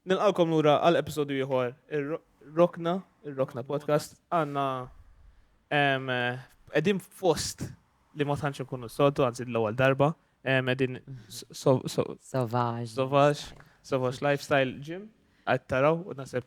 Nilqgħukom lura għal episodju ieħor ir-Rokna, ir-Rokna Podcast. Għandna qegħdin fost li ma tantx inkunu s-soltu, anzi l-ewwel darba, qegħdin Sauvage. Sauvage, Sauvage Lifestyle Gym, qed taraw u naseb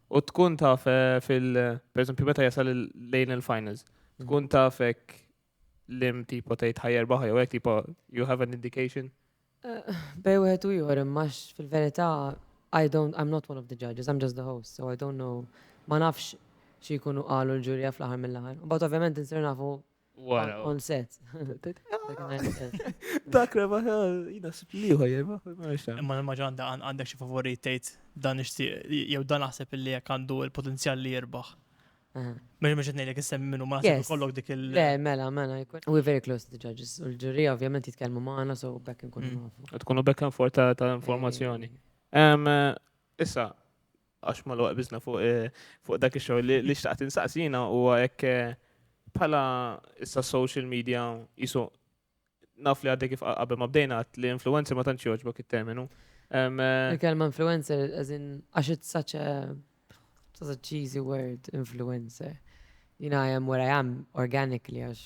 U tkun taf eh, fil, per esempio, meta jasal lejn il-finals, mm. tkun taf ek lim tipo tejt ħajer baħja, u ek tipo, you have an indication? Eh, bej u għetu jħor, max fil-verita, I don't, I'm not one of the judges, I'm just the host, so I don't know, ma nafx xie jkunu għalu l-ġurja fl-ħar mill-ħar. But ovvjament nsir nafu Wara. On set. Dak reba, jina spliħu jema. Ma ma ġanda għandek xi favori tgħid dan ixtieq jew dan naħseb li jekk għandu l-potenzjal li jirbaħ. Mela mhux qed ngħidlek issemmi minnu ma naħseb kollok dik il- Le, mela, mela, we're very close to the judges. U l-ġuri ovvjament jitkellmu magħna so bekk nkunu mm. nafu. Tkunu bekk for ta' informazzjoni. Issa, Għax ma l-waqt bizna fuq dak il-xogħol li li xtaqt insaqsina u għek bħala issa social media jisu naf li għadde kif qabel ma bdejna li influencer ma tantx joġbok it-terminu. Eh, Il-kelma influencer, għazin, għax it's such a, such a cheesy word, influencer. You know, I am what I am organically, għax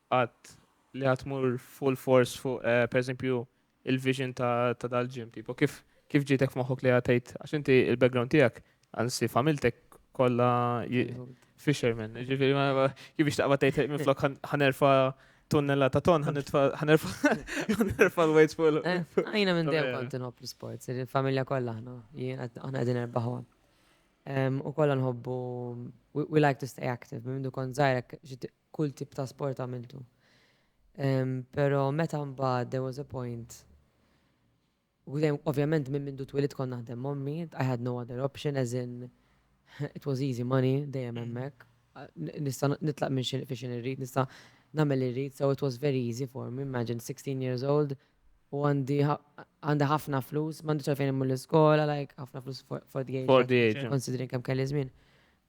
qatt li ħa tmur full force fuq eh, pereżempju il-vision ta' ta' dal-ġim tipo kif kif ġietek f'moħħok li ħa tgħid għax inti il-background tiegħek anzi familtek kollha ji- fisherman, ġifieri ma- ma- kif biex taqbad tgħid minn flok ħan- ħanerfa tunnella ta' ton, ħanitfa- ħanerfa ħanerfa l-weights fuq il- Eh, Għajna minn dejjem Vera. kont nħobb l-sports, il-familja kollha aħna, jien qed- aħna qegħdin erbaħwa. Em, U kollha nħobbu, we, we like to stay active, minn mindu kont żgħirek, kull tip ta' sport għamiltu. Pero meta mbagħad there was a point Ovvjament minn mindu twilit kont naħdem mommi, I had no other option as in it was easy money dejjem hemmhekk. Nista' nitlaq minn xi fi xi irrid, nista' nagħmel irrid, so it was very easy for me, imagine 16 years old u għandi għandi ħafna flus, m'għandix għalfejn immur l-iskola, like ħafna flus for the age. For the age. Considering kemm kelli żmien.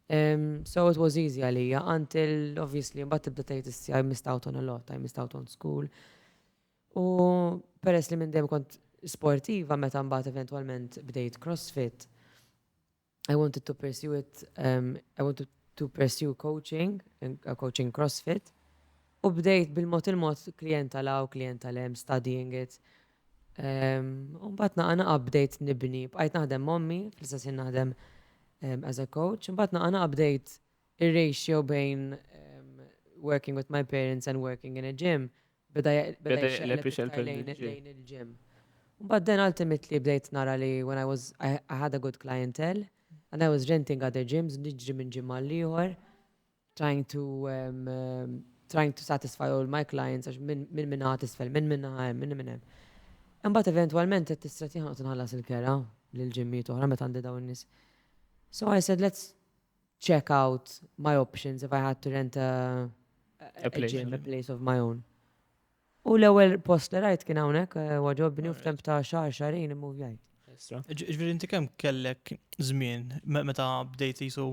So it was easy għalija, until obviously mbagħad tibda tgħid issi I missed out on a lot, I missed out on school. U peress li minn dejjem kont sportiva meta mbagħad eventwalment bdejt CrossFit, I wanted to pursue it, um, I wanted to pursue coaching, uh, coaching CrossFit. U bdejt bil-mod il-mod klienta law, klienta lem, studying it. U mbagħad naqa' naqa' bdejt nibni, bqajt naħdem mommi, fl-istess naħdem as a coach, mbagħad naqa' naqa' bdejt ir-ratio bejn working with my parents and working in a gym. Beda lejn il-gym. But then ultimately bdejt nara li when I was, I, I had a good clientele and I was renting other gyms, nġri minn gym għal-liħor. trying to trying to satisfy all my clients għax minn minn ħat isfel, minn minn ħa minn minn hemm. Imbagħad eventwalment qed tistret jien qed nħallas il-kera lil ġimmiet oħra meta għandi dawn nies. So I said let's check out my options if I had to rent a, a, place, gym, a place of my own. U l-ewwel post li rajt kien hawnhekk eh, waġobni u f'temp ta' xahar xarin immu jgħid. Ġifieri inti kemm kellek żmien meta bdejt jisu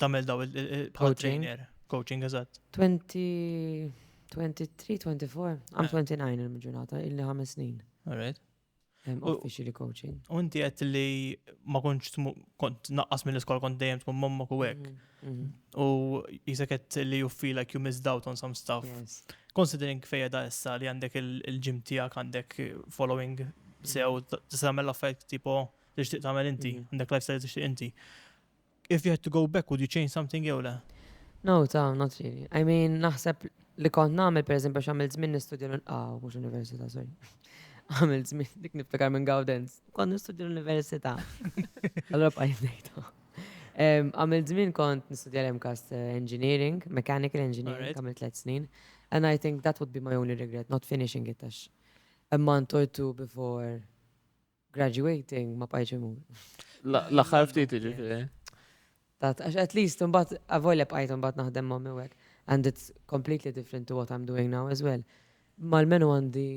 Tamel daw il-bħal trainer. Coaching, eżatt. 20, 23, 24, għam 29 il-ġurnata, illi ħames snin. Alright. Officially coaching. U inti għet li ma konċ kont naqqas mill iskol kont dejjem tkun mamma ku għek. Mhm, mhm. U jisek għet li you feel like you missed out on some stuff. Considering fejja da issa li għandek il-ġim tijak għandek following sew, t-samel affajt tipo li tixtieq tagħmel inti, mm. għandek lifestyle li tixtieq inti. If you had to go back, would you change something jew le? No, ta, not really. I mean, naħseb li kont nagħmel pereżempju x'għamil żmien nistudja ah, mhux università, sorry. Għamil żmien dik niftakar minn Gawdens. Kont nistudja l-università. Allora bqajt ngħidha. Għamil żmien kont nistudja l-MCAS eh, Engineering, Mechanical Engineering, għamil tliet snin. And I think that would be my only regret, not finishing it, għax a month or two before Graduating ma bqajtx imur. L-aħħar ftit jiġifieri. Tat, għax at least imbagħad avolja bqajt imbagħad naħdem ma' miwek. And it's completely different to what I'm doing now as well. Mal-menu għandi.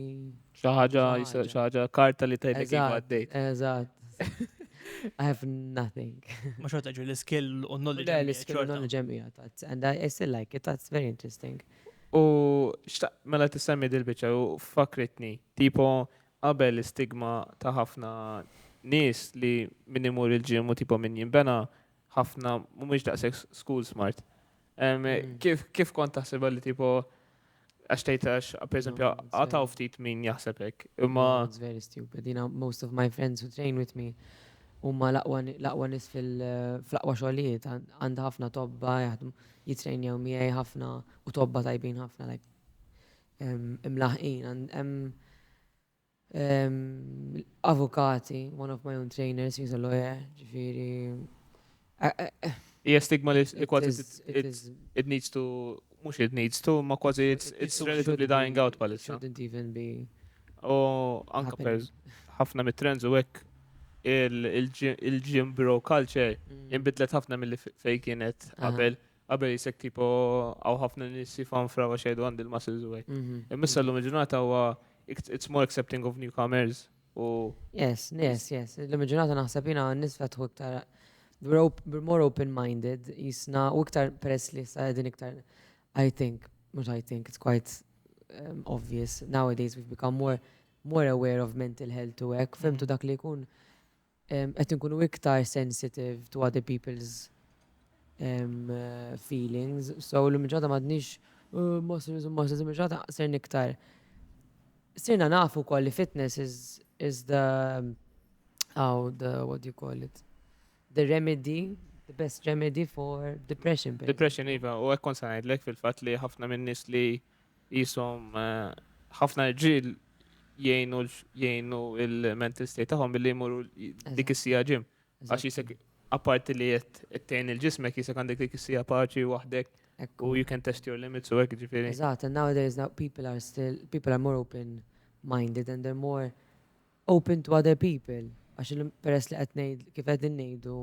Xi ħaġa, xi ħaġa karta li tgħidlek kif għaddejt. Eżatt. I have nothing. Ma xorta ġu l-skill u knowledge. Le, l-skill u knowledge ġemija, tat. And I still like it, that's very interesting. U mela t-semmi dil-bicċa u fakritni, tipo Qabel l-istigma ta' ħafna nies li min imur il-gym hu tipo min jinbena, ħafna mhumiex daqshekk school smart. Kif kont taħseb li tipo għax tgħid għax pereżempju għataw ftit min jaħseb hekk. Imma it's very stupid. Jina most of my friends who train with me huma l-aqwa nies fil-aqwa xogħlijiet għandha ħafna tobba jaħdmu jitrejnjaw miegħi ħafna u tobba tajbin ħafna like imlaħħqin għand hemm avukati, one of my own trainers, he's a lawyer, ġifieri. Hija stigma li kważi it needs to mhux it needs to, ma kważi it's relatively dying out palissa. Shouldn't even be. U anka per ħafna mit-trends u hekk il-gym bro culture mm. inbidlet ħafna mill-li fej kienet qabel. Qabel jisek tipo għaw ħafna nis jifanfra għax jgħidu għandi l-muscles u għek. Mhm. Immissa l-lum ġurnata għu it's more accepting of newcomers u. Yes, yes, yes. L-lum ġurnata naħseb jina nis fetħu iktar we're more open-minded, jisna u iktar peress li sa' din iktar I think, mux I think, it's quite um, obvious nowadays we've become more more aware of mental health u hekk, femtu mhm. dak li jkun Qed inkunu iktar sensitive to other people's feelings, so illum il-ġurnata m'għadniex muscles u muscles, illum il-ġurnata sirna iktar. Sirna nafu wkoll li fitness is, is the how the, what do you call it? The remedy, the best remedy for depression. Depression iva, u hekk kont se ngħidlek fil-fatt li ħafna min-nies li Qishom ħafna rġiel jgħinu jgħinu il-mental state tagħhom billi jmorru dik is-sija ġim. Għax jisek apparti li qed tgħin il-ġismek jisek għandek dik is-sija paċi waħdek u you can test your limits u hekk ġifieri. Eżatt, and nowadays now people are still people are more open minded and they're more open to other people. Għax peress li qed ngħid kif qegħdin ngħidu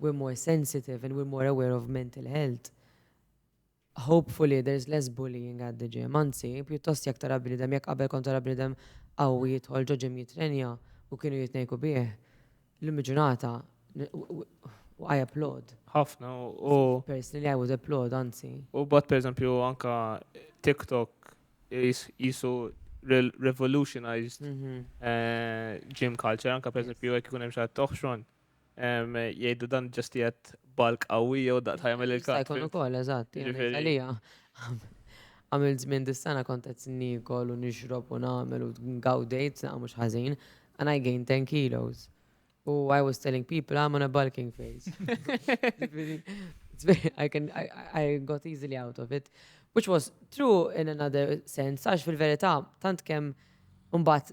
we're more sensitive and we're more aware of mental health. Hopefully there's less bullying at the gym, anzi, pjuttost jekk tara bniedem, jekk qabel kont tara bniedem qawwi jidħol ġo gym jittrenja u kienu jitnejku bih, llum il-ġurnata u I applaud. Ħafna u. Personally I would applaud, anzi. U bad pereżempju anka TikTok jisu revolutionized mhm. eh, gym culture, anka pereżempju jekk ikun hemm xi ħadd Jgħidu dan ġast jgħat balk qawwi jew daqt ħajmel il-kap. Jista' jkun ukoll, eżatt. Għalija, għamil żmien dis-sena kont qed nikol u nixrob u nagħmel u ngawdejt saqa mhux ħażin, and I gained 10 kilos. U I was telling people I'm on a bulking phase. I, can, I, I got easily out of it. Which was true in another sense, għax fil-verità, tant kemm Umbat,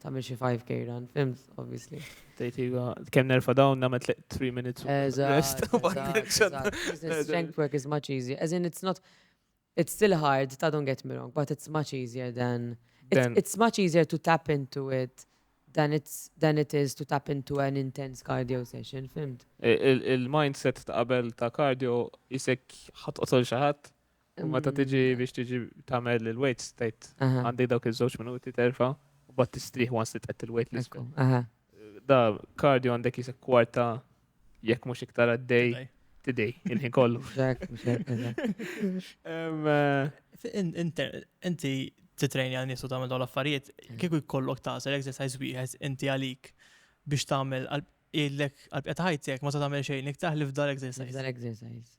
Tamil xi 5k run, fimt, obviously. Tejt iva, kem nerfa dawn namet 3 minutes. Eżatt. Strength work is much easier. As in, it's not, it's still hard, ta' don't get me wrong, but it's much easier than, it's, it's much easier to tap into it than it's than it is to tap into an intense cardio session, fimt? Il-mindset ta' qabel ta' cardio jisek ħat qotol xaħat U meta tiġi mm. biex tiġi tagħmel il-weight state għandek dawk iż-żewġ minuti terfa' u bat tistrieħ once li tqed il-weight list. Da kardio għandek jisek kwarta jekk mhux iktar għaddej tidej il-ħin kollu. Inti titrejni għal nisu tagħmel dawn l-affarijiet, mm. kieku jkollok tażel exercise wieħed inti għalik biex tagħmel il-lek għal-pjata ħajtek ma tagħmel xejn iktar li f'dal exercise. F'dal exercise.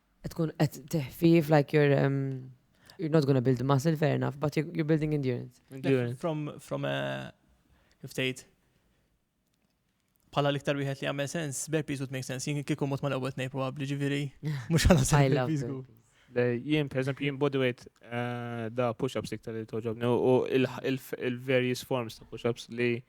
Tkun qed teħfif like you're um, you're not gonna build muscle fair enough, but you're, you're building endurance. Endurance. From, from a, kif tgħid, pala l-iktar wieħed li għamel sens, burpees would make sense, jien kieku mot ma l-ewwel tnej probabli ġifieri, mhux għal I love burpees. gu. burpees. Le, Jien, per eżempju, jien bodyweight eh, da push-ups iktar li toġobni u il- il- il-various forms ta' push-ups li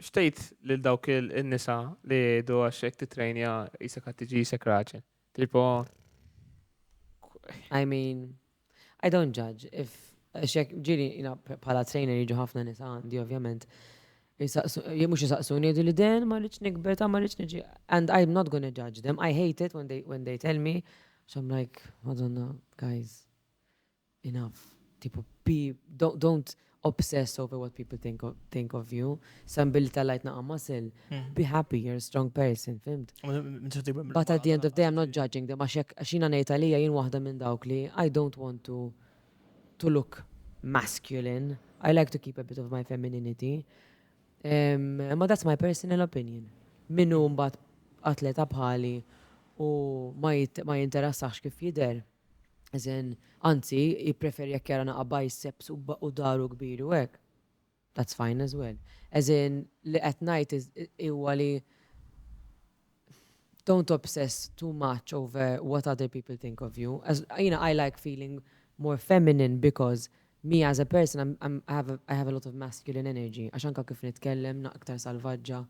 X'tgħid lil dawk in-nisa li jgħidu għax jekk titrejnja qisek qed tiġi qisek raġel? Tipo I mean, I don't judge. If xek ġiri jina bħala trainer jiġu ħafna nisa għandi ovvjament. Mux jisaqsuni jgħidu li den ma rridx nikber ta' ma rridx niġi. And I'm not gonna judge them. I hate it when they, when they tell me. So I'm like, madonna, guys, Enough. Tipo be, don't obsess over what people think of, think of you. Sa billi tallajt naqa' muscle, be happy, you're a strong person, fimd? But at the end of the day, I'm not judging them, għax jekk għax jiena ngħid għalija jien waħda minn dawk li I don't want to to look masculine. I like to keep a bit of my femininity. Um, ma that's my personal opinion. Minnu mbagħad atleta bħali u ma jinteressax kif jidher, Eżen, anzi, jippreferi jekk jara naqa' biceps u u dahru kbir u hekk. That's fine as well. Eżen, li qed ngħid is- huwa li don't obsess too much over what other people think of you. As, jiena I like feeling more feminine because me as a person I'm, I'm, I have a, I have a lot of masculine energy għax anke kif nitkellem na iktar salvaġġa.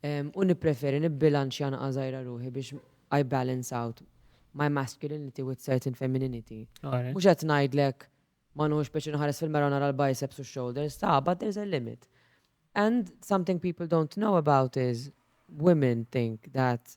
u nippreferi nibbilanċja naqqa' żgħira ruħi biex I balance out my masculinity with certain femininity. Mhux qed ngħidlek ma nħuhx pjaċir nħares fil-mirror u nara l-biceps u x-shoulders, ta' but there's a limit. And something people don't know about is women think that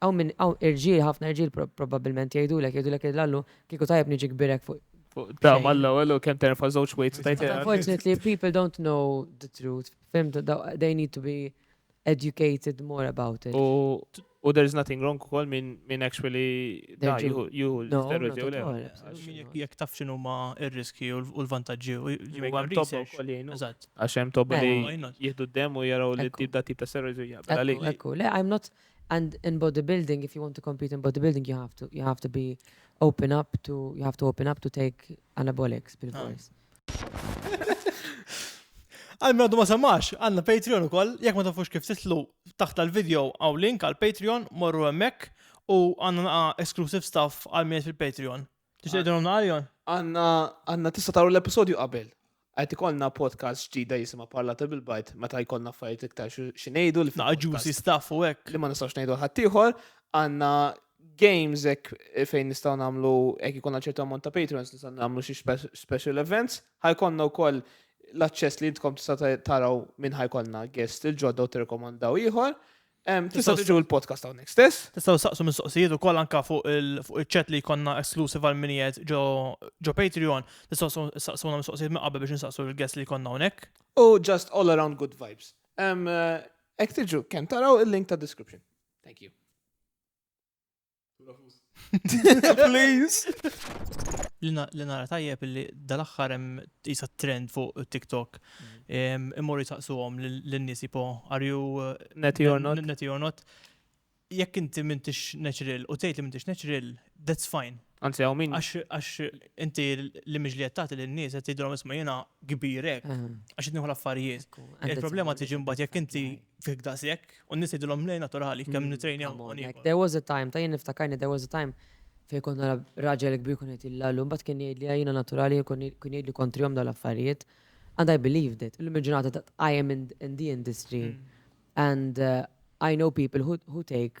Hawn min, hawn irġiel, ħafna irġiel probabbilment jgħidulek, jgħidulek li l-Allu kieku tajjeb niġi kbirek fuq fuq Da, xejn. malla, għallu, kem terfa zoċ wejt u tajt. Unfortunately, people don't know the truth. Fimt, da- they need to be educated more about it. U, u there's nothing wrong ukoll minn min actually da, Terġu- juhu, juhu, No, steroid not jew at le. all. Min jekk- Jekk taf xinu ma ir-riski u l- u l-vantaġġi u Jekk jgħu hemm tobba research. wkoll jgħinu. Eżatt. Għax hemm tobba Mela. li Why not? jieħdu d-dem u jaraw li Ekku. tip da tip ta' steroid u jaqbel Ekku, għalik. ekku, le, I'm not, And in bodybuilding, if you want to compete in bodybuilding, you have to, you have to be open up to, you have to open up to take anabolics bil-fors. Għal minn għaddu ma samax, għanna Patreon u koll, jek ma tafux kif titlu taħt tal-video għaw link għal Patreon, morru emmek u għanna naqa exclusive stuff għal minn fil-Patreon. Tixtieqilhom naqaljon? Għanna għanna tista' taru l-episodju qabel. Qed ikollna podcast ġdida jisimha Parlata bil-bajt meta jkollna affarijiet iktar xi xi ngħidu li Naqa' ġusi staff u hekk. li ma nistgħux ngħidu ħaddieħor, għandna games hekk fejn nistgħu nagħmlu hekk ikollna ċertu ammont ta' patrons nistgħu nagħmlu xi spe- special events. Ħajkollna wkoll l-aċċess li intkom tista' ta- taraw minn ħajkollna guest il-ġodda u tirrekomandaw ieħor. Tista' tiġu l-podcast hawnhekk stess. Tistgħu saqsu mistoqsijiet ukoll anke fuq il-chat li jkollna exclusive għal minijiet ġo Patreon. Tistgħu saqsuna mistoqsijiet minn qabel biex insaqsu l-guest li jkollna hawnhekk. U just all around good vibes. Ek tiġu, kemm taraw il-link ta' description. Thank you. Please. Li nara tajjeb li dal-axħar hemm jisa trend fuq TikTok. Mm. Immorru jisaqsuhom lin-nies jipo are you uh, netty or not? Netty or not. Jekk inti m'intix natural u tgħid li m'intix natural, that's fine. Anzi, għaw min. Għax inti li mġli għattati li n-nis għatti drom isma jena kbirek, għax jitniħu l-affarijiet. Il-problema tiġi mbat jek inti fik daqshekk u n-nies jgħidilhom lej naturali kemm mm, nitrejnja hawnhekk. There was a time, ta' jien niftakarni there was a time fejn kont nara raġel kbir kun qed jillallu, mbagħad kien jgħid li jiena naturali kun jgħid li kontrihom dal-affarijiet. And I believed it. Illum il-ġurnata that I am in, in the industry mm. and uh, I know people who, who take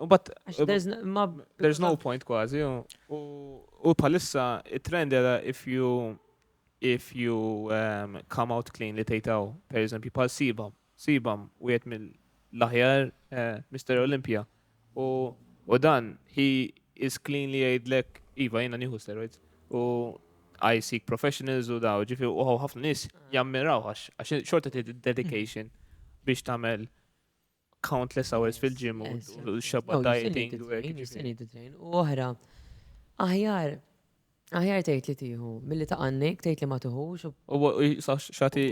But, uh, there's, no, ma, there's no point kważi. U palissa it-trend era if you if you um, come out clean li tejtaw, per eżempju, pal sibam, sibam u jett mill-laħjar uh, eh, Mr. Olympia. U, u dan, he is clean li jgħidlek, iva jena nieħu steroids. U I seek professionals u daw, ġifi u ħafna nis jammiraw għax, għax xorta dedication biex tamel countless hours fil-gym u xabba dieting u hekk. U oħra, aħjar aħjar tgħid li tieħu milli ta' għannik tgħid li ma tuħux. U xati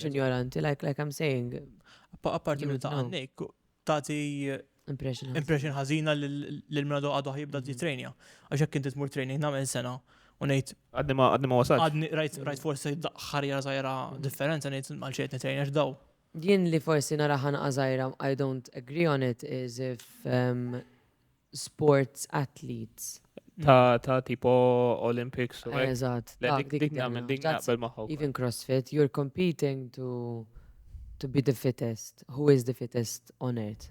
ignoranti like like I'm saying. Apparti minn ta' għannik tagħti impression ħażina lil mradu għadu ħajibda di training. Għax hekk inti tmur training nagħmel sena u ngħid għadni ma għadni ma wasal. Għadni rajt forsi ħarja żgħira differenza ngħid għal xejn nitrejn għax daw Jien li forsi nara ħanqa żgħira I don't agree on it is if um, sports athletes Ta' ta' tipo Olympics u hekk. Eżatt. Le, dak, dik- dik dik nagħmel, nagħmel. dik That's naqbel magħha wkoll. Even CrossFit, you're competing to to be the fittest. Who is the fittest on earth?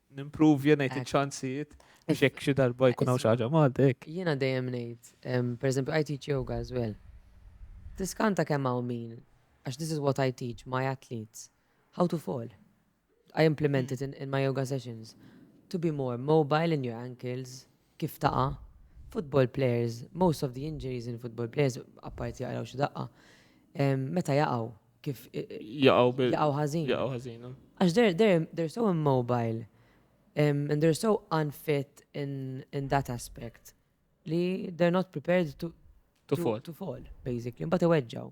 Nimpruvja ngħid iċ-ċansijiet biex hekk xi darba jkun hawn xi ħaġa Malti hekk. Jiena dejjem ngħid, pereżempju I teach yoga as well. Tiskanta kemm hawn min, għax this is what I teach my athletes, how to fall. I implement it in, in my yoga sessions. To be more mobile in your ankles, kif taqa', football players, most of the injuries in football players, apparti jaqraw xi daqqa, meta jaqgħu, kif jaqgħu bil. Jaqgħu ħażin. Jaqgħu ħażin. Eh. Għax they're, they're, they're so immobile um, and they're so unfit in, in that aspect li they're not prepared to, to, to, fall. to fall, basically. Mbagħad iweġġaw.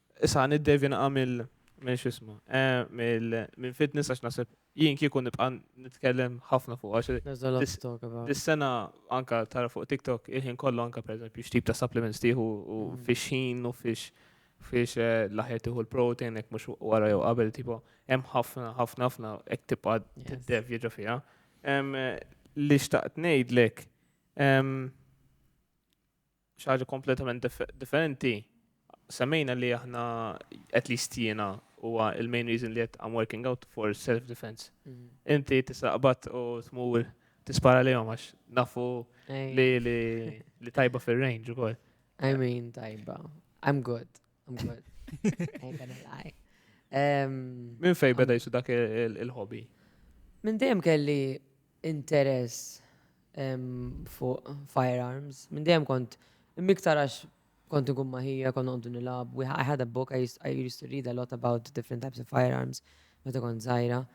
Issa niddevi naqa' mill minn x'isma. Minn fitness għax naħseb jien kieku nibqa' nitkellem ħafna fuq għax. Dis-sena anka tara fuq TikTok il-ħin kollu anka pereżempju x'tip ta' supplements tieħu u fiex ħin u fiex fiex eh, l-aħjar tieħu l-protein hekk mhux wara jew qabel tipo hemm ħafna ħafna ħafna hekk tibqa' tiddev jiġu fiha. Li xtaqt ngħidlek xaħġa kompletament differenti, semmejna li aħna, at least jiena, huwa il-main reason li għet I'm working out for self-defense. Mhm. Inti tisaqbat u tmur tispara li għax nafu li li tajba fil-range u kol. I mean, tajba. I'm good. I'm good. Ain't gonna lie. Min fej beda jisu dak il-hobby? Min dejjem kelli interess fuq firearms. Minn dejjem kont miktar għax kont inkun ma' ħija, kont noqogħdu nilgħab. I had a book, I used to read a lot about different types of firearms meta kont żgħira.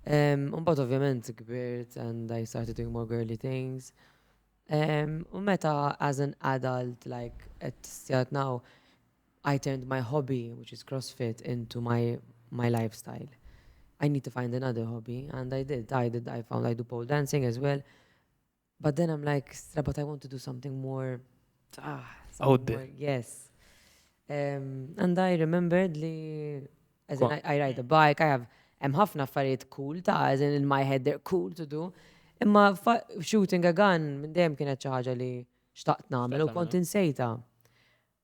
Imbagħad ovvjament kbirt and I started doing more girly things. U meta as an adult like at this year now, I turned my hobby, which is CrossFit, into my my lifestyle. I need to find another hobby, and I did, I did, I found, I do pole dancing as well. But then I'm like, stra, but I want to do something more, ah, Out there. yes. Um, and I remembered li, as in, I, I ride a bike, I have, hemm ħafna affarijiet cool ta' as in, in my head they're cool to do. Imma fa- shooting a gun minn dejjem kienet xi ħaġa li xtaqt nagħmel u Xtaqt kont insejta.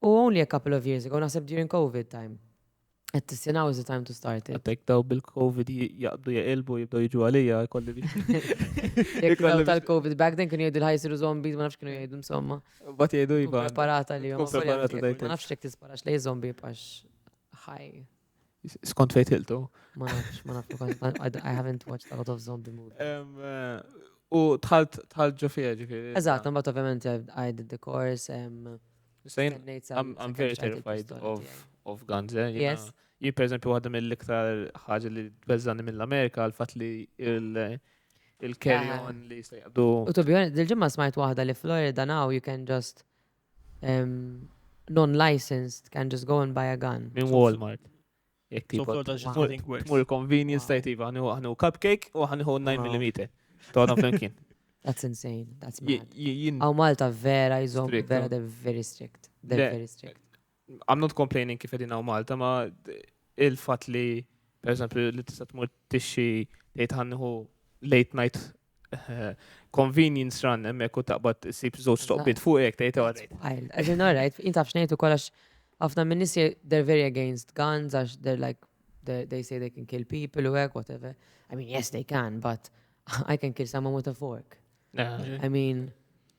U only a couple of years ago, naħseb during COVID time. Qed tissi now is the time to start it. Għatek daw bil-Covid jaqbdu jaqilbu jibdaw jiġu għalija, kolli biex. Jek daw tal-Covid back then kienu jgħidu l-ħajsiru zombies, ma nafx kienu jgħidu insomma. Bat jgħidu jiba. Preparata li jom. Preparata dajt. Ma nafx jek tisparax lej zombi pax ħaj. Skont fejn tiltu? Ma nafx, ma nafx, I haven't watched a lot of zombie movies. Eh, u tħalt tħalt ġo fija ġifiri. Eżatt, but ovvjament I did the course. I'm very terrified of, of guns, eh? Yes. Jien per eżempju waħda mill-iktar ħaġa li bezzani mill-Amerika għal-fat li il- il-carry ah. on li jistajdu. U to be honest, dil-ġimma smajt waħda li Florida now you can just non-licensed can just go and buy a gun. Min Walmart. Jek tipo. Tmur convenience tajt iva, għanu cupcake u għanu 9mm. Tgħadhom flimkien. That's insane. That's mad. Għaw Malta vera jizom, vera they're very strict. They're very strict. I'm not complaining kif edina u Malta, ma il-fat li, per eżempju, li tista' tmur tixxi tgħid ħanniħu late night eh, convenience run hemmhekk u taqbad issib żewġ toqbit fuq hekk tgħid għadejt. Wild. As in, alright, jien taf xnejtu kollax ħafna minn nies je- they're very against guns għax they're like they they say they can kill people u hekk whatever. I mean, yes they can, but I can kill someone with a fork. I mean,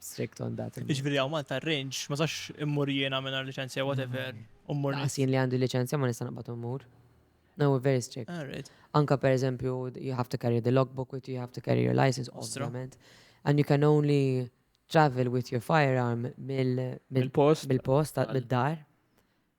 strict on that. Iġviri għaw Malta range, ma sax immur jiena minna licenzja, whatever, ummur. Għasin li għandi licenzja ma nista naqbat ummur. No, we're very strict. Ah, Anka per eżempju, you have to carry the logbook with you, you have to carry your license, obvjament. And you can only travel with your firearm mill-post, mill-post, mill-dar.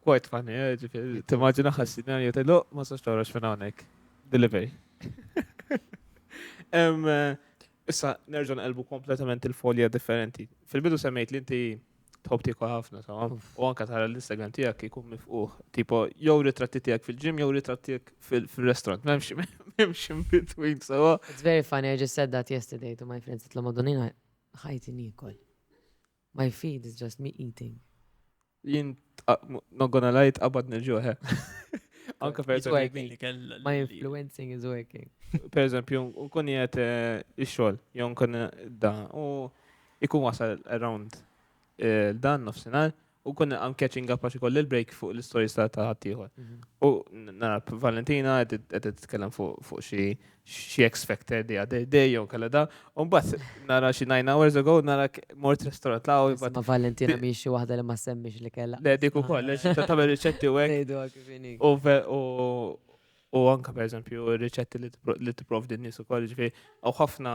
Quite funny, eh, ġifiri, timmaġina ħassina jew tajlu, ma sax tawrax fin hawnhekk. Delivery. Em, eh, Issa, nerġa' nqelbu kompletament il-folja differenti. Fil-bidu semmejt li inti tħobb tieku ħafna, tamam? U anka tara l-Instagram tiegħek jkun mifquħ. Tipo, jew ritratti tiegħek fil-ġim, jew ritratti tiegħek fil- fil-restaurant. Memx, memx in between, sawa. It's very funny, I just said that yesterday to my friends, itlu madonina ħajti nikol. My feed is just me eating. Jien not gonna lie tqabad nil-ġuħ. eh. Anka per It's eżempju, working. Kell- My influencing is working. per eżempju, nkun jgħet il-xol, jew nkun da, u ikun wasal around eh, dan nofsinar, u kun I'm catching up għax ikolli l-break fuq l-stories ta' ta' ħaddieħor. U n- nara Valentina qed qed titkellem fuq fuq xi xi X Factor the other day, jew kalla da, un bat nara xi 9 hours ago, nara mort restaurant la' u bat. Ma Valentina mi xi wahda li ma semmix li kella. Le, dik u koll, le, xi ta' tamel riċetti u għek. U anka, per eżempju, riċetti li t-prof din nis u koll, ġifi, u ħafna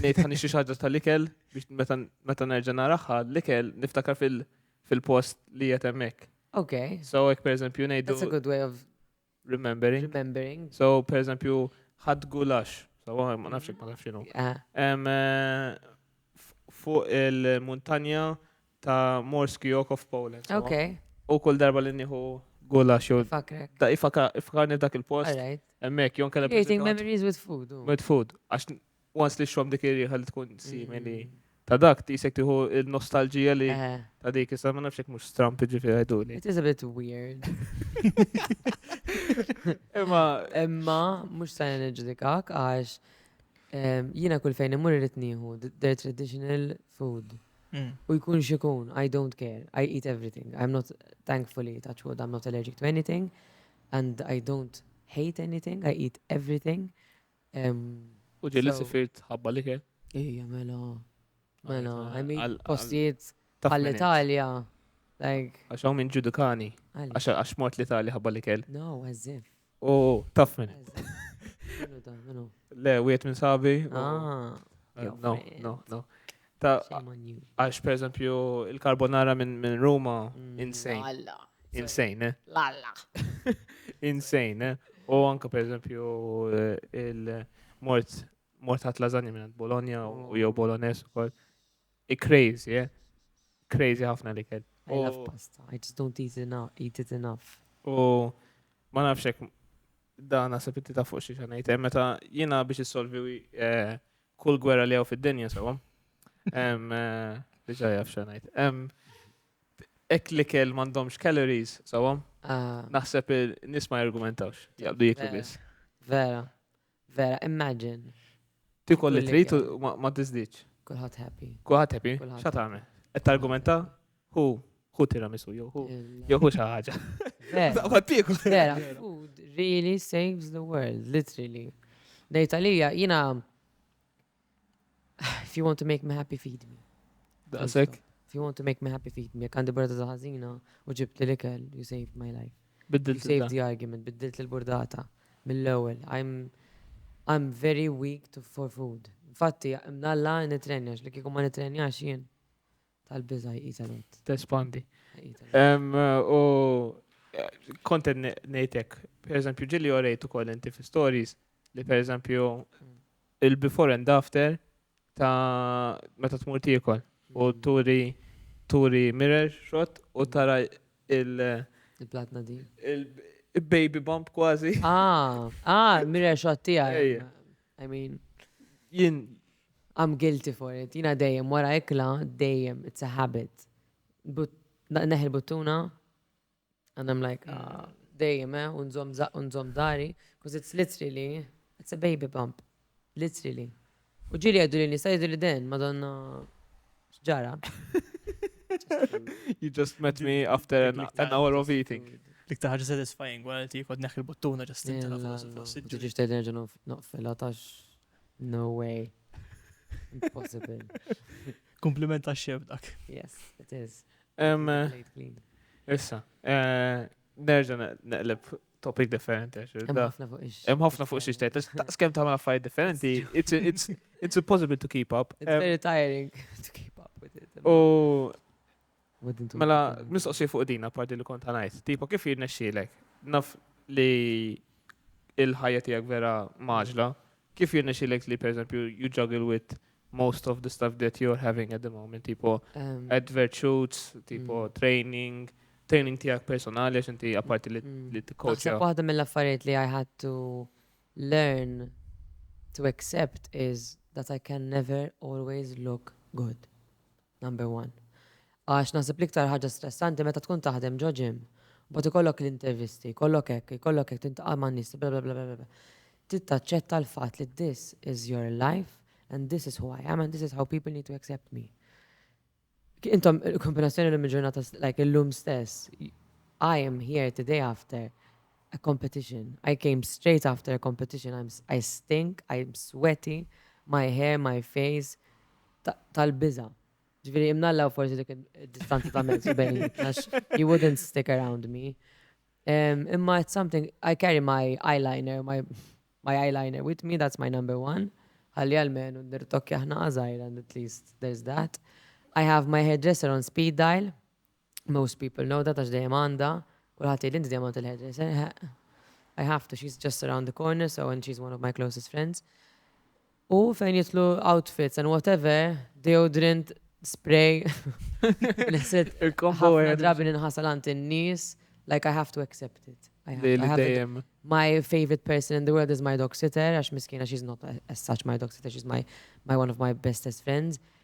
ngħid ħan nixtri xaġġa tal-ikel biex meta meta nerġa' naraha l-ikel niftakar fil- fil-post li qed hemmhekk. Okay. So hekk pereżempju ngħidu That's a good way of remembering. remembering. So pereżempju ħadd gulax. So waħ- ma nafx hekk ma nafx x'inhu. Ah, Em, eh, f- Fuq il-muntanja ta' Morski Oko f'Poland. Ok. U kull darba li nieħu gula xo. Fakrek. Da ifakarni dak il-post. Alright. Emmek, jon kellem. Creating memories with food. With food. Għax once li xom dik irriħa li tkun simili. Mm. Ta' dak tisek tiħu il-nostalġija li eh. ta' dik issa ma nafx mhux stramp ġifieri għajdu li. It is a bit weird. Imma imma mhux se niġġudikak għax jiena kull fejn imur irid nieħu their traditional food. U jkun xikun, I don't care, I eat everything. I'm not, thankfully, touch wood, I'm not allergic to anything and I don't hate anything, I eat everything. U ġelli sifirt ħabba li ke? Ija, mela. Mela, I mean, postijiet għall-Italja. Għaxaw minn ġudukani. Għax mort l-Italja ħabba li kell. No, as if. U taf minn. Le, wiet minn sabi. Ah, eh, no, no, no. Ta' għax per eżempju il-carbonara minn min Ruma, mm, insane. Insane, eh? Lalla. insane, eh? U anka per eżempju eh, il-mort mort ħat lasagna minn Bologna u jew Bolognese u koll. Crazy, eh? Crazy ħafna li kell. I love pasta. I just don't eat enough, eat it enough. U ma nafx hekk dan naħseb inti ta' fuq xi xanajt. Eh, meta jiena biex issolvi eh, kull gwerra li hawn fid-dinja sewwa. Eh, diġà jaf xanajt. Ek li kell m'għandhomx calories sewwa. Ah. Naħseb nisma' jargumentawx. Jaqbdu jiklu biss. Vera. Vera, imagine. Tikol li trid ma tiżdiċ. Kulħadd happy. Kulħadd happy. Xa tagħmel? Qed targumenta hu hu tiramisu jew hu jew hu xi ħaġa. Vera, food really saves the world, literally. Dejta lija jiena If you want to make me happy, feed me. Daqsek? If you want to make me happy, feed me. Kandi burda ta' ħażina u ġibt li l-ikel, you saved my life. Biddil You saved the argument, biddilt l-burdata mill-ewwel. I'm, I'm very weak to, for food. Infatti, mnalla nitrenjax, li kikum ma nitrenjax jien. Tal-biża' jqis għal għodd. Tespandi. U kont qed ngħid hekk, pereżempju ġieli orejt ukoll inti fi stories li pereżempju mm. il-before and after ta' meta tmur tiekol u mm. turi turi mirror shot u mm. tara il- il-platna di. Il-baby bump kważi. Ah, ah, mirror shot tiegħi. I mean. Jien I'm guilty for it. Jina dejjem wara ikla, dejjem, it's a habit. Neħi l-buttuna, and I'm like, ah, dejjem, eh, unżom unżom dari, because it's literally, it's a baby bump. Literally. U ġili għeddu li nisa jiddu li den, madonna ġara. You just met me after an, an hour of eating. Dik taħġa satisfying, għal ti kod neħi l-buttuna ġastin. Ġiġi xtejd nerġa noqfil, għatax No way. Impossible. Kompliment ta' xef dak. Yes, it is. Issa, eh, nerġa neqleb topic differenti. Hemm ħafna fuq xi xtejt. Skem tagħmel affarijiet differenti, it's impossible to keep up. It's very tiring to keep up with it. U Mela, mistoqsi fuq din, apparti li kont għanajt. Tipo, kif jirnexxilek? Naf li il-ħajja tijak vera maġla. Kif jirnexxilek li, per eżempju, you juggle with most of the stuff that you're having at the moment? Tipo, um, advert shoots, tipo, mm. training, training tijak personali, għax inti apparti li mm. t-coach. Għasab waħda mill-affarijiet li I had to learn to accept is that I can never always look good. Number one. Għax naħseb l-iktar ħaġa stressanti meta tkun taħdem ġo gym, mbagħad ikollok l-intervisti, jkollok hekk, jkollok hekk, tintaqa' ma' nies, bla bla bla bla bla. Trid taċċetta l-fatt li this is your life and this is who I am and this is how people need to accept me. Intom, kombinazzjoni l-lum ġurnata, like l-lum stess, I am here today after a competition. I came straight after a competition. I'm, I stink, I'm sweaty, my hair, my face, tal-biża'. Ġifieri imnalla u forsi dik id-distanza ta' mezz bejnietna you wouldn't stick around me. Imma it's something I carry my eyeliner, my my eyeliner with me, that's my number one. Ħalli għalmenu nirtokkja ħnaqa żgħira and at least there's that. I have my hairdresser on speed dial. Most people know that għax dejjem għandha, kulħadd jgħidli inti dejjem għand il-hairdresser, eħe. I have to, she's just around the corner, so and she's one of my closest friends. U fejn jitlu outfits and whatever, deodorant, spray. Neset, ħafna drabi nħasal għant in-nies, like I have to accept it. I have, I have it. My favorite person in the world is my dog sitter, għax miskina she's not as such my dog sitter, she's my, my one of my bestest friends.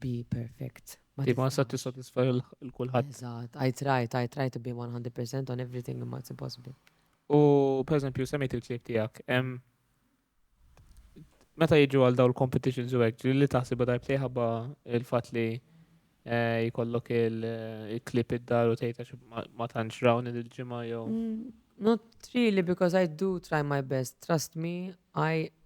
be perfect. Ti ma sa tissatisfa l-kulħadd. Eżatt, I tried, I tried to be 100% on everything imma it's impossible. U per eżempju semmejt il-klib tiegħek, meta jiġu għal daw l-competitions u hekk, li taħsibha darbtej ħabba il-fatt li eh, jkollok il-klib eh, id-dar u tgħid għax ma tantx rawn il-ġimgħa jew. Mm, not really because I do try my best. Trust me, I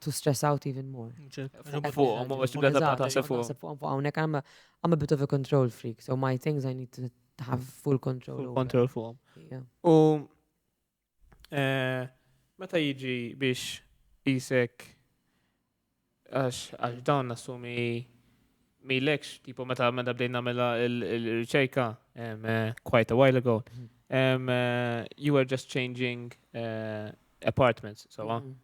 to stress out even more. Fuqom, fuqom, fuqom, għonek, I'm a bit of a control freak, so my things I need to have full control. Full control fuqom. U eh, meta jiġi biex jisek għax għax dawn nassumi mi lekx, tipo meta meta bdejna mela il-riċerka eh, quite a while ago, mhm. eh, you were just changing apartments, so mm -hmm.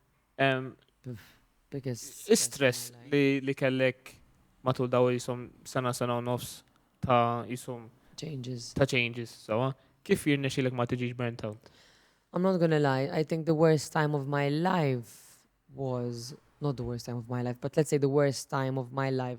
Istress li kellek matul daw jisom sena sena u nofs ta' jisom changes. Ta' changes, sawa. Kif jirne xilek ma tiġiġ burnt out? I'm not gonna lie, I think the worst time of my life was, not the worst time of my life, but let's say the worst time of my life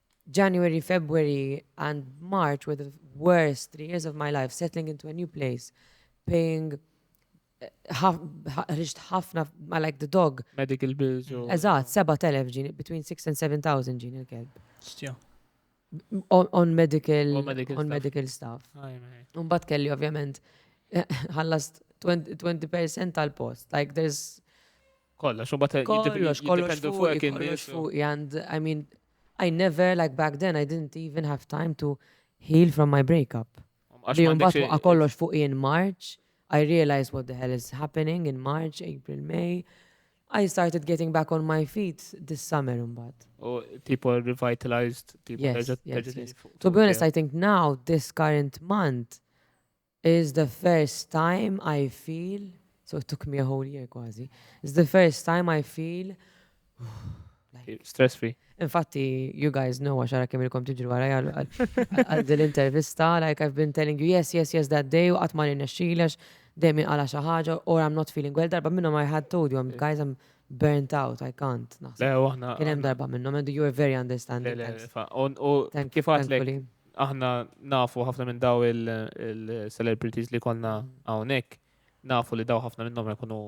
January, February and March were the worst three years of my life, settling into a new place, paying ħriġt ħafna ma like the dog. Medical bills. Eżat, 7,000 ġin, between 6 and 7,000 ġin il-kelb. On medical, on medical stuff. Unbat kelli ovvjament ħallast 20% tal-post. Like there's Kollox, u bat kollox, kollox fuq kien kollox fuq, and I mean, I never, like back then, I didn't even have time to heal from my breakup. Li jumbat fuqa kollox fuq in March, I realized what the hell is happening in March, April, May. I started getting back on my feet this summer umbat. Oh, people revitalized, people yes, yes, yes. To be honest, I think now, this current month, It's the first time I feel, so it took me a whole year kważi, it's the first time I feel Stress free. Infatti, you guys know għax għara kemm ilkom tiġru għara għal din l-intervista, like I've been telling you yes, yes, yes that day, u qatt ma nirnexxilex, dejjem għala xi ħaġa, or I'm not feeling well, darba minnhom I had told you, guys I'm burnt out, I can't. Le, aħna. Kien hemm darba minnhom, and you were very understanding. Kif għatlek? Aħna nafu ħafna minn daw il-celebrities li konna hawnhekk, nafu li daw ħafna minnhom jkunu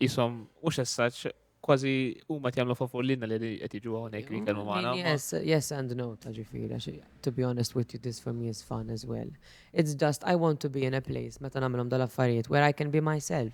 jisom u xessaċ kważi u ma tjamlu favur l-inna li qed jiġu hawnhekk li kellu magħna. Yes, yes and no ta' ġifieri, to be honest with you, this for me is fun as well. It's just I want to be in a place meta nagħmilhom dal-affarijiet where I can be myself.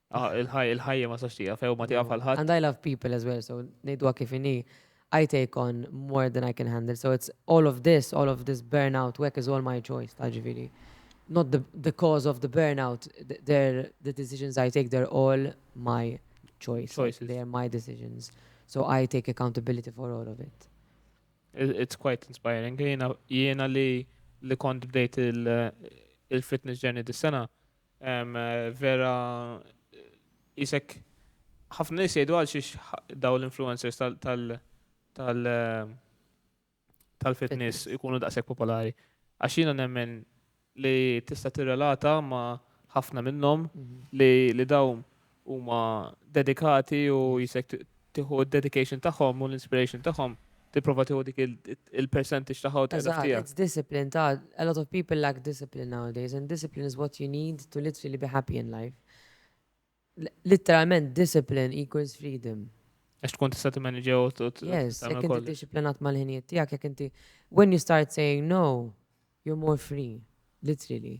Ah, il-ħajja ma sax tija, few ma tija falħat. And I love people as well, so nejdwa kif ini. I take on more than I can handle. So it's all of this, all of this burnout work is all my choice, ta' ġifiri. Not the, the cause of the burnout, they're, the decisions I take, they're all my choice. Choices. They're my decisions. So I take accountability for all of it. It's quite inspiring. Jena, jena li li kont bdejt il-fitness journey dis-sena, Vera isek ħafna nies jgħidu għal xiex daw l-influencers tal tal tal-fitness ikunu daqshekk popolari. Għax jiena nemmen li tista' tirrelata ma' ħafna minnhom mhm. li daw huma dedikati u jisek tieħu d-dedication tagħhom u l-inspiration tagħhom tipprova tieħu dik il-percentage tagħha u tagħha. It's discipline ta' a lot of people lack discipline nowadays and discipline is what you need to literally be happy in life. Literalment discipline equals freedom. Għax tkun tista' timmanage u Yes, jekk inti disciplinat mal-ħinijiet tiegħek, jekk inti when you start saying no, you're more free, literally.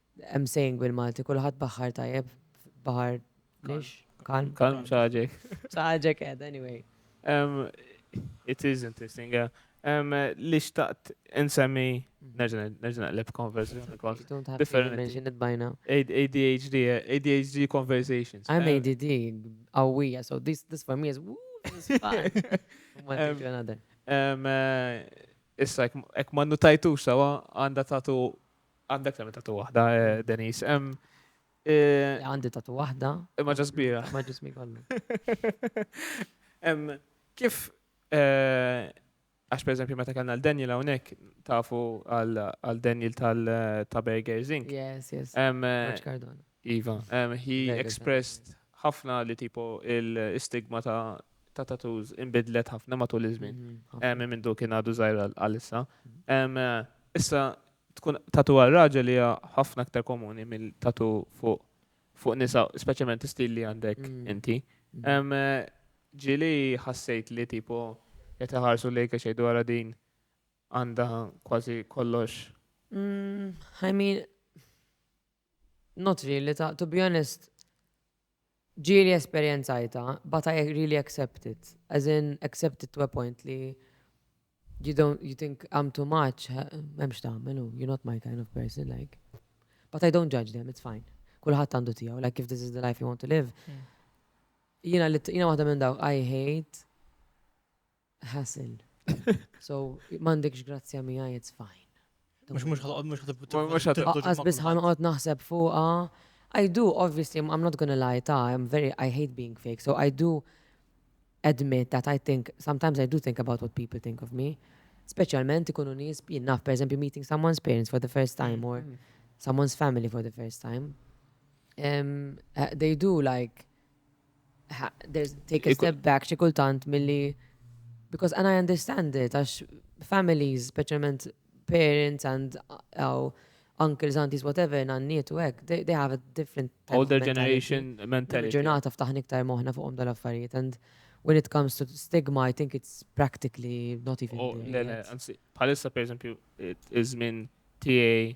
Hemm saying bil-Malti, kulħadd baħħar tajjeb, baħar lix, kalm. Kalm saġek. Saġek ed, anyway. Um, it is interesting, yeah. Um, li xtaqt insemmi, mhm. nerġa nerġa naqleb konversjoni kol. Differenti. ADHD, ADHD conversations. I'm um, ADD, awija, so this, this for me is woo, this is fun. Um, uh, issa, ek ma nutajtu sawa, għanda tatu Għandek tagħmel tatu waħda, eh, Denis. Eh, għandi tatu waħda. Imma ġas kbira. Ma ġismi kollu. Kif, eh, għax per eżempju meta kellna l-Daniel hawnhekk tafu għal Daniel tal-Taberger Zink. Yes, yes. Għax Cardona. Iva, he expressed ħafna li tipo il-stigma ta' ta' tattoos imbidlet ħafna matul iż-żmien. Hemm minn du kien għadu żgħir għalissa. Issa tkun tatu għal raġel hija ħafna aktar komuni mill tatu fuq fuq nisa, speċjalment istil li għandek inti. Ġili ħassejt li tipo qed iħarsu lejk għax jgħidu għara din għandha kważi kollox. I mean, Not really, ta to be honest ġieli esperjenzajtha but I really accept it. As in accept it to a point li you don't you think I'm too much, memx tagħmel u you're not my kind of person like. But I don't judge them, it's fine. Kulħadd għandu tiegħu, like if this is the life you want to live. Hmm. Jiena li jiena waħda minn dawk I hate hassle. So, m'għandekx grazzja miegħi, it's fine. Mux mux ħalqod mux ħalqod. Għaz bis ħalqod naħseb fuqa. I do, obviously, I'm not gonna lie, ta, I'm very, I hate being fake, so I do admit that I think, sometimes I do think about what people think of me. Specialment ikunu nis, jinnaf, per esempio, meeting someone's parents for the first time mm, or mm. someone's family for the first time. Um, uh, they do like, Take a step back xi kultant milli because and I understand it għax families, speċjalment parents and uh, uncles, aunties, whatever, nanniet u hekk, they, they have a different older generation mentality. Ġurnata ftaħni iktar moħna fuqhom dal-affarijiet and when it comes to stigma, I think it's practically not even. Oh, le, le, anzi, bħalissa per eżempju, iż-żmien tiegħi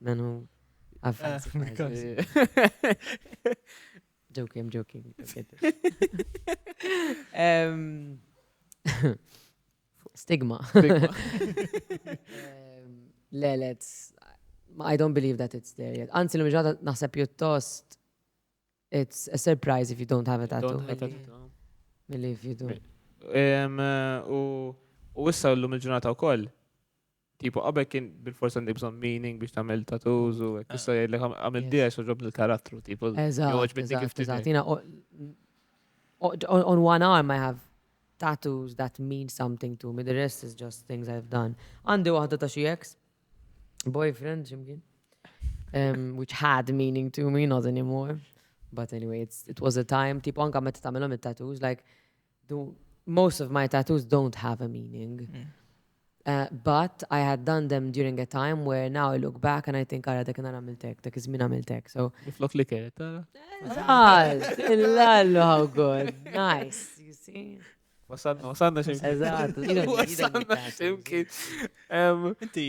Dan hu avvanz. Joking, I'm joking. Stigma. Le, let's. I don't believe that it's there yet. Anzi, l-mġata naħseb pjuttost it's a surprise if you don't have a tattoo. Milli if you do. U issa l-lum il-ġurnata u koll, Tipo, qabel kien bil-forsa għandek bżon meaning biex tagħmel tattoos u hekk issa jgħidlek għamil diex u ġob l-karattru, tipo, joġ minni kif tiżgħat. Jina, on one arm I have tattoos that mean something to me, the rest is just things I've done. Għandi waħda ta' xi ex, boyfriend, ximkien, um, which had meaning to me, not anymore. But anyway, it was a time, tipo, anka meta tagħmilhom it-tattoos, like, Do most of my tattoos don't have a meaning. Mm. Uh, but I had done them during a time where now I look back and I think għara dak nara mil-tek, dak izmin għamil-tek. So. Flok li keret, għara? Zaz, illallu, how good. Nice, you see. Wasanna, wasanna ximkien. Eżat, wasanna ximkien. Inti,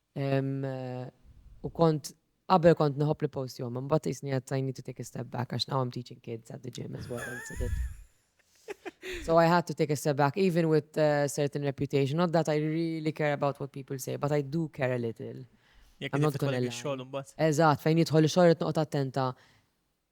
U kont qabel kont nħobb li post jom, mbagħad isni għad I need to take a step back għax now I'm teaching kids at the gym as well. So I had to take a step back, even with a uh, certain reputation. Not that I really care about what people say, but I do care a little. Jek I'm not gonna lie. Eżat, fejn jitħol xogħol qed noqgħod attenta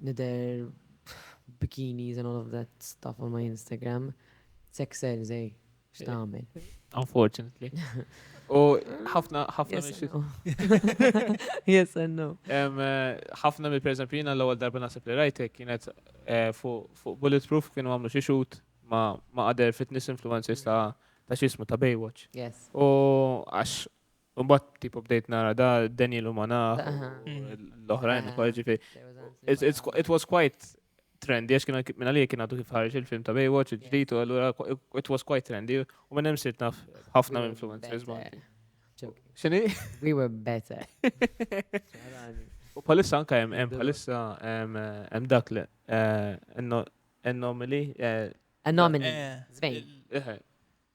nidher b'bikinis and all of that stuff on my Instagram, sex sells ej, x'tagħmel. Unfortunately. U ħafna ħafna Yes and no. Ħafna mill pereżempju jiena l-ewwel darba naħseb li rajtek kienet eh, fuq Bulletproof kienu għamlu xi shoot ma' other fitness influencers ta' ta' xismu ta' Baywatch. Yes. U għax Mbagħad tipo bdejt nara da Daniel Umana l-oħrajn ukoll ġifi. It was quite trendy, għax kien minna li kien għadu kif ħarġ il-film ta' Baywatch, il-ġdijt, u għallura it was quite trendy, u minn hemm sirt naf ħafna influencers ma. Xini? We were better. U palissa anka jem, jem palissa jem dak li, eh, anomaly. Eh, anomaly, zvejn. Eh,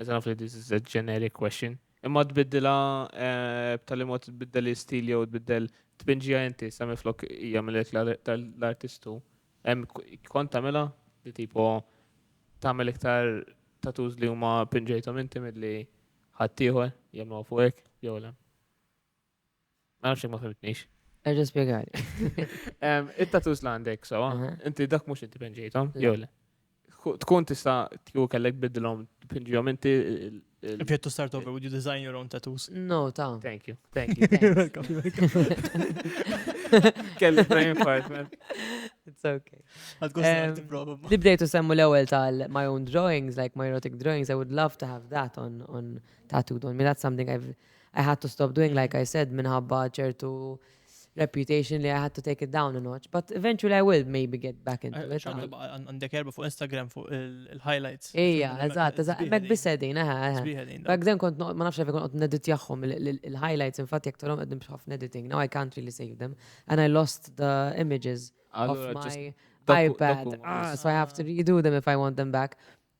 Eżan għaf li this is a generic question. Imma tbiddila eh, b'tali mod tbiddel l-istil jew tbiddel tbinġija inti sami flok hija mill-ek l-artistu. Kont tagħmilha li tipo tagħmel iktar tatuż li huma pinġejthom inti milli ħaddieħor jagħmlu fuqek jew le. Ma nafx ma fimtnix. Erġa spiegħani. It-tatus la għandek, so, inti dak mux inti penġejtom, jew le. Tkun tista tju kellek bidlom, pinġijom inti. If you had to start over, would you design your own tattoos? No, ta. Thank you, thank you. Kelli brain fart, man. It's okay. Li bdejtu semmu l-ewel tal my own drawings, like my erotic drawings, I would love to have that on, on tattooed on me. That's something I've I had to stop doing like I said minħabba ċertu reputation li I had to take it down a notch. But eventually I will maybe get back into it. Għandek erba fuq Instagram fuq il-highlights. Ija, eżat, eżat. Mek bisedin, eħe, eħe. Back then kont ma nafx għafi kont nedit jaħħom il-highlights, infatti jek torom għeddim bħaf editing. Now I can't really save them. And I lost the images of my iPad. Ah, so I have to redo them if I want them back.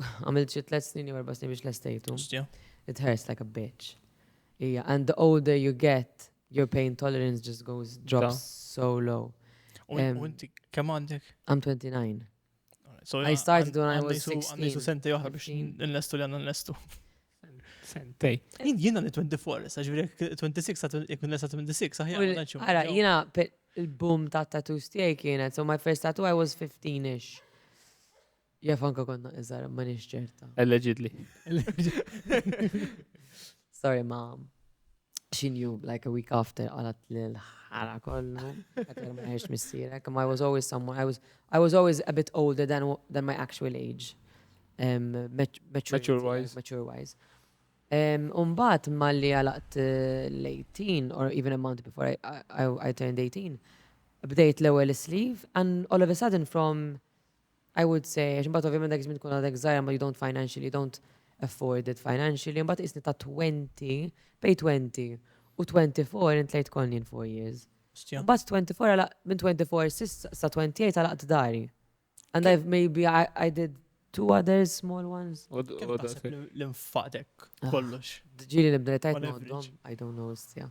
Għamilt xi tliet snin jew erba' snin biex lestejtu. It hurts like a bitch. Ija, and the older you get, your pain tolerance just goes drops so low. U inti kemm għandek? I'm 29. So I started when I was 16. Għandu sentej oħra biex nlestu li għanna nlestu. Sentej. Jina li 24, saġviri 26, jkun lesa 26, saħja. Għara, jina il-boom ta' tattoos tiegħi kienet, so my first tattoo I was 15-ish. Jaf anka konna iżar, ma nix ċerta. Allegedly. Sorry, ma. She knew like a week after għalat l-ħara kollu. Għatar ma jiex missirek. I was always someone, I was, I was always a bit older than, than my actual age. Um, mature wise. Mature wise. Um, umbat malli għalaqt eh, l-18, or even a month before I, I, I turned 18, bdejt l-ewel sleeve, and all of a sudden from I would say, għax mbagħad ovvjament dak iż-żmien tkun għadek żgħira ma you don't financially, you don't afford it financially, mbagħad isni ta' 20, bej 20 u 24 intlejt konni in 4 years. Mbagħad 24 għala minn 24 sissa sa 28 għalaqt dari. And I've maybe I, I did two other small ones. Kemm taħseb l-infaqdek kollox? Ġili nibda li tajt noddhom, I don't know, istja.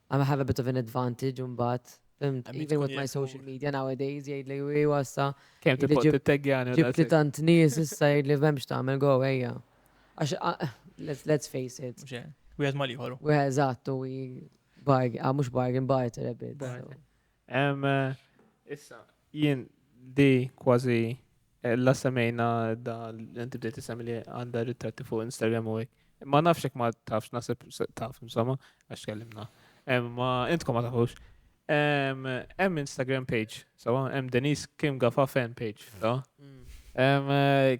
I'm have a bit of an advantage mbagħad. Fimt, even with my social media nowadays jgħid li wi wassa. Kemm tibgħod titteggjan Ġibt li tant nies issa jgħid li m'hemmx tagħmel go ejja. Għax let's face it. Wieħed ma liħor. Wieħed eżatt u bargain, ah, mhux bargain barter a bit. Issa, jien di kważi eh, la semmejna da l-inti bdejt semmi li għanda ritratti fuq Instagram u għek. Ma nafxek ma tafx, nasib taf, insomma, għax kellimna. Ma intkom ma tafux. Hemm Instagram page, sawa, hemm Denise Kim Gafa fan page, ta? Mm. Eh,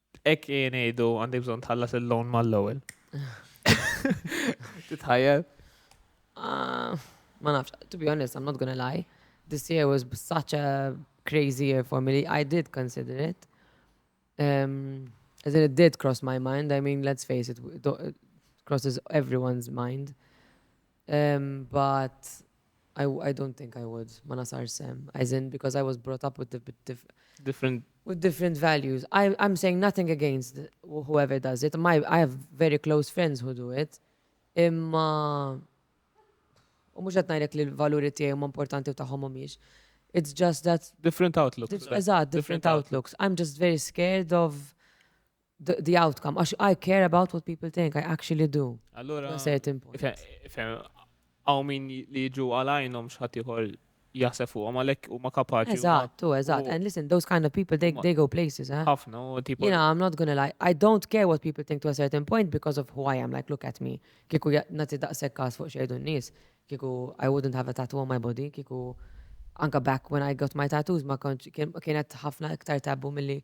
Hekk jien ngħidu għandek bżonn tħallas il-loan mal-ewwel. Titħajjel? Ah, ma nafx, to be honest, I'm not gonna lie. This year was such a crazy year for me. I did consider it. Um, as in it did cross my mind. I mean, let's face it, it crosses everyone's mind. Ehm but I I don't think I would, ma nasarx sehem. As in because I was brought up with different with different values. I I'm saying nothing against whoever does it. My I have very close friends who do it. Imma u mhux qed ngħidlek li l-valuri tiegħi huma importanti u tagħhom mhumiex. It's just that different outlooks. Eżatt, different outlooks. I'm just very scared of the, the outcome, għax I care about what people think, I actually do. Allora, għaw min li ġu għalajnom xħatiħor jasef u għamalek u ma kapaċi. Eżattu, eżatt. And listen, those kind of people, they, they go places, eh? Ħafna, u tipo. You know, I'm not gonna lie. I don't care what people think to a certain point because of who I am. Like, look at me. Kiku nati daqsek kas fuq xejdu n-nis. Kiku, I wouldn't have a tattoo on my body. Kiku, anka back when I got my tattoos, ma kienet ħafna iktar tabbu mill-li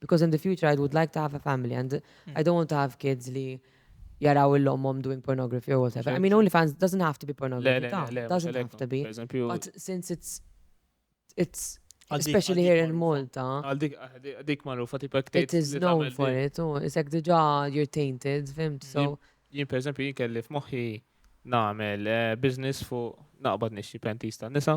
Because in the future I would like to have a family and I don't want to have kids li jaraw il-lommom doing pornography or whatever. I mean, OnlyFans doesn't have to be pornography. It doesn't have to be. But since it's, it's Especially here in Malta. Għaldik marrufa tipek It is known for it, u isek diġa you're tainted, fimt, so. Jien per eżempju jien kelli f'moħħi nagħmel eh, business fuq naqbad nixxi pentista nisa.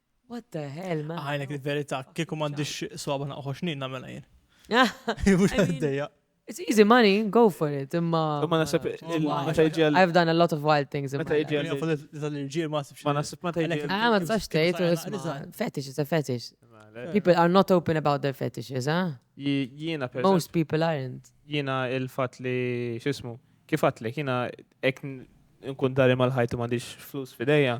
What the hell, man? Għajlek il-verità, kieku m'għandix swaba naqħu xnin nagħmel jien. Mhux għaddejja. It's easy money, go for it, imma. Ma nasib meta jġi għal. I've done a lot of wild things. Meta jġi għal. Tal-irġiel ma nasibx. Ma nasib meta jġi. Ah, ma tistax tgħid u fetish is a fetish. People are not open about their fetishes, ah? Jiena per. Most people aren't. Jiena il-fat li xismu. Kif għatlek, jiena ek nkun dari mal-ħajtu m'għandix flus fidejja.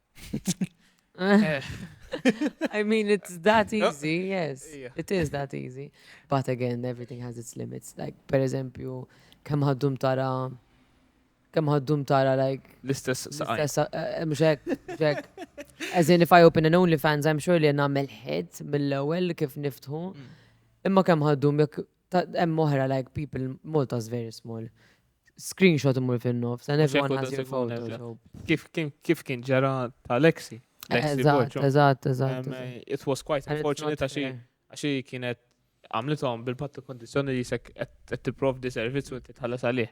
I mean, it's that easy, yes. It is that easy. But again, everything has its limits. Like, per eżempju, kem ħaddum tara, kem ħaddum tara, like... L-istess saqaj. Eh, mxek, mxek. As in, if I open an OnlyFans, I'm sure li namel hit mill-ewel kif niftħu. Mm. Imma kem ħaddum, jek Hemm oħra like people Malta is very small. Screenshot imur fin-nofs and everyone has your photo. Kif kien ġara ta' Lexi? Eżatt, eżatt, eżatt. It was quite unfortunate għaxi għaxi kienet għamlitom bil-pattu kondizjoni li jisek qed tipprovdi servizz u inti tħallas għalih.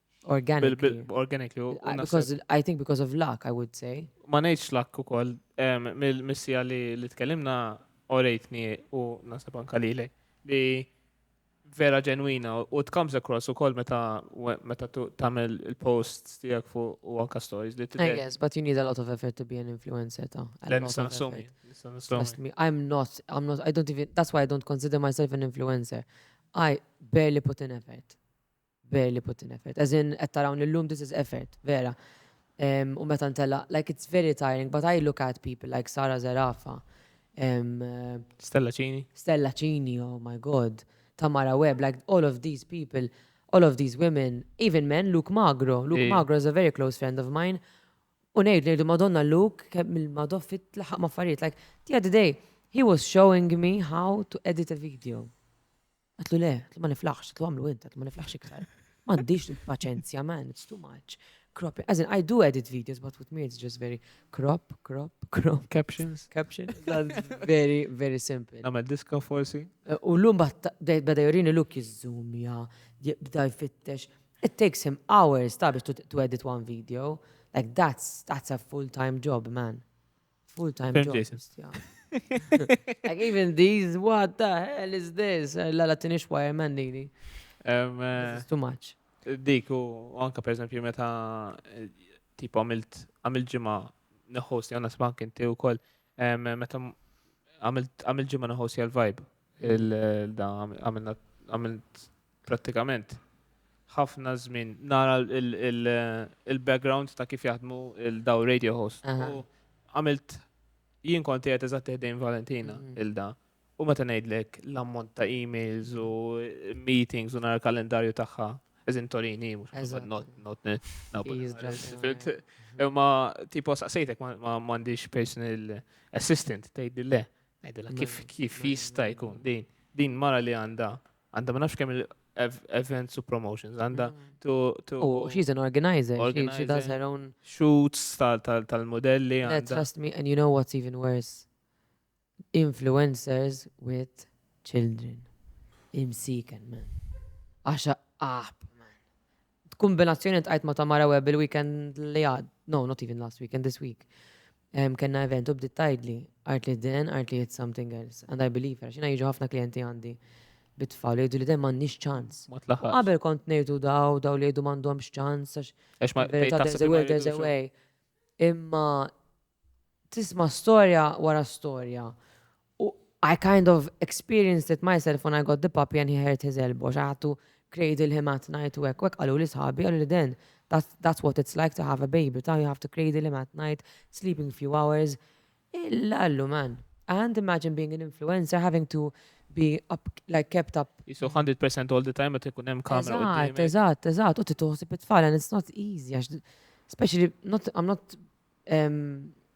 Organically. Organically. Because I think because of luck, I would say. Ma nejċ luck u koll, mill-missija li tkellimna orejtni u nasib anka li li vera ġenwina u it comes across u koll meta meta tamel il-post tijak fu u anka stories li t-tibet. Yes, but you need a lot of effort to be an influencer ta. Nista nassumi. Trust me, I'm not, I'm not, I don't even, that's why I don't consider myself an influencer. I barely put in effort. Barely put in effort. As in, qed tarawni llum, this is effort, vera. Em, u meta ntellaq, like it's very tiring, but I look at people like Sara Zerafa, em, eh, Stella Cini. Stella Cini, oh my god, Tamara Webb, like all of these people, all of these women, even men, Luke Magro. Luke Ej. Magro is a very close friend of mine. U ngħid ngħidu Madonna Luke kemm il-Madonna fit laħaq ma' affarijiet. Like the other day, he was showing me how to edit a video. Għatlu le, għatlu ma niflaħx, għatlu għamlu int, għatlu ma niflaħx iktar. Mandiġ paċenzja, man, it's too much. Crop, as in, I do edit videos, but with me it's just very crop, crop, crop. Captions. Captions. very, very simple. Għamel diska forsi. Eh, u l-lum bada jorini look jizzum, ja, bda jfittex. It takes him hours ta' biex to edit one video. Like that's, that's a full-time job, man. Full-time job. Like even these, what the hell is this? La la tinix wireman dini. Eh, too much. Dik u anka per esempio meta eh, tipo għamilt għamilt ġimma neħos jgħana smak inti u koll meta għamilt ġimma neħos jgħal vibe il-da għamilt prattikament ħafna żmien nara il-background ta' kif jaħdmu il-daw radio host. Għamilt jien konti għet eżatt ħdejn Valentina mm. il-da. U meta ngħidlek l-ammont ta' emails u meetings u nara kalendarju tagħha eżin Torini, mux not not Imma tipo saqsejtek ma m'għandix personal assistant tgħidli le. Ngħidilha kif kif jista' jkun din din mara li għandha Għanda ma nafx kemm il-events u promotions, għanda mm. to... U oh, she's an organizer, she does her own... Shoots tal-modelli. Trust me, and you know what's even worse? Influencers with children. Imsiken, man. Għaxa aħb, man. B'kumbinazzjoni tqajt ma' Tamara Webb il-weekend li għad, no, not even last weekend, this week. Kenna event u bdiet tgħidli, għart li den, għart li it's something else. And I believe her, xina jiġu ħafna klijenti għandi bit-tfal jgħidu li den m'għandniex ċans. Qabel kont ngħidu daw, daw li jgħidu m'għandhomx ċans, għax there's a will, there's a way. Imma tisma' storja wara storja U I kind of experienced it myself when I got the puppy and he hurt his elbow, I had to cradle him at night u hekk, u hekk qaluli sħabi, qaluli then that's what it's like to have a baby, ta' you have to cradle him at night, sleeping few hours. Illa allu man, I can't imagine being an influencer having to be up, like kept up. Jisu 100% all the time meta jkun hemm kamera u Eżatt, eżatt, eżatt, u titoħsib it-tfal and it's not easy, especially not, I'm not um,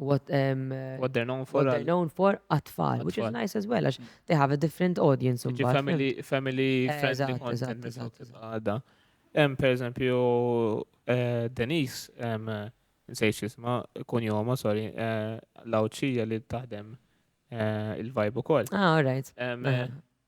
what, um, what they're known for. What they're known for atfal, which is nice as well, għax they have a different audience. Family, family eh, friendly content. Għadda. Em, per eżempju, eh, Denise, em, nsejx jisma, kunjoma, sorry, eh, lawċija li taħdem il-vibe u koll. Ah, all right.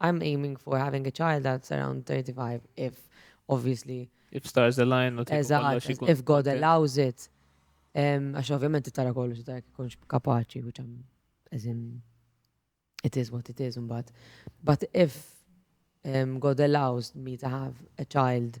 I'm aiming for having a child that's around 35 if obviously If stars align u tiku Eżatt, kollox ikun. if God kontent. allows it. Em, Għax ovvjament tara kollu tara jekk ikunx kapaċi, which I'm, as in, it is what it is, but, but if em, God allows me to have a child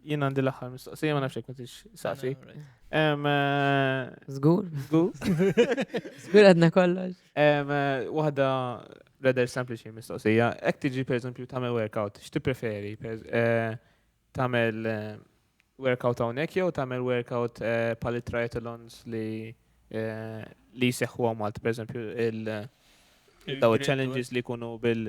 Jien għandi l-aħħar mistoqsija, ma nafx jekk intix saqsi. Zgur? Eh, Zgur? Zgur għadna kollox. Eh, waħda rather sempliċi mistoqsija. Ek tiġi per eżempju tagħmel workout, x'ti preferi? Eh, tagħmel workout hawnhekk jew tagħmel workout pal triathlons li li jseħħu għamalt, per eżempju, il- daw challenges li kunu bil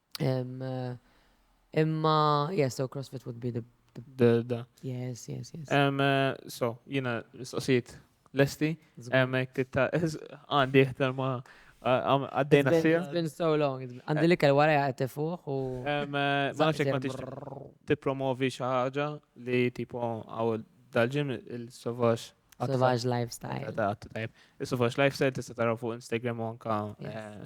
Imma, yes, so CrossFit would be the the, the. Yes, yes, yes. Um, uh, so, jina, soqsijiet lesti, għamek titta, għandi jihtar ma għaddejna sija. It's been so long. Għandi li kell wara għati fuq u. Uh, ma nafxek ma t-promovi xaħġa li tipo għaw dal-ġim il-sovax. Sovax lifestyle. Sovax lifestyle tista taraw fuq Instagram u anka. Eh,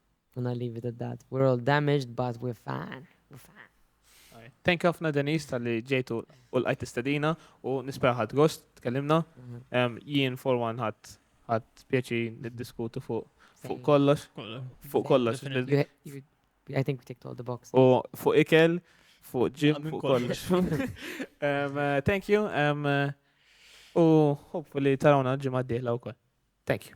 And I leave it at that. We're all damaged, but we're fine. We're fine. Thank you ħafna Denise tal-li ġejtu u l-għajt istedina u nispera ħad gost tkellimna. Mhm. Jien for one ħad ħad pjaċi niddiskutu fuq fuq kollox. Fuq kollox. I think we ticked all the boxes. U fuq ikel, fuq ġim, fuq kollox. Uh, thank you. Uh, u hopefully tarawna ġimgħa d-dieħla wkoll. Thank you.